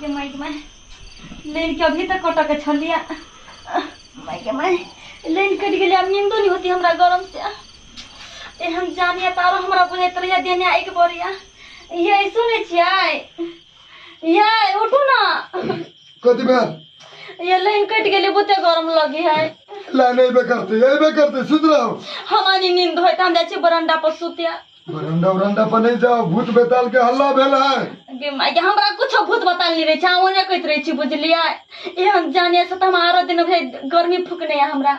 ये माइक में लेन के अभी तक कटक के छलिया माइक में लेन कट गेलिया नींदो नहीं होती हमरा गरम से ए हम जानिया तारो हमरा बुझे तरिया देने एक बोरिया ये सुने छियै ये उठू ना कथी भेल ये लाइन कट गेली बुते गरम लगी है लाइन अयबे करतै अयबे करतै सुति रहू हमारी नींद होय त हम जाइ छी बरंडा पर सुतिया बरंडा उरंडा पर नहीं जाओ भूत बेताल के हल्ला भेल है गे माय गे, हमरा कुछो भूत बताल नहीं रहे छै ओने कहैत रहे छी बुझलियै एहन जाने से त हम आरो दिन भे गर्मी फुकने है हमरा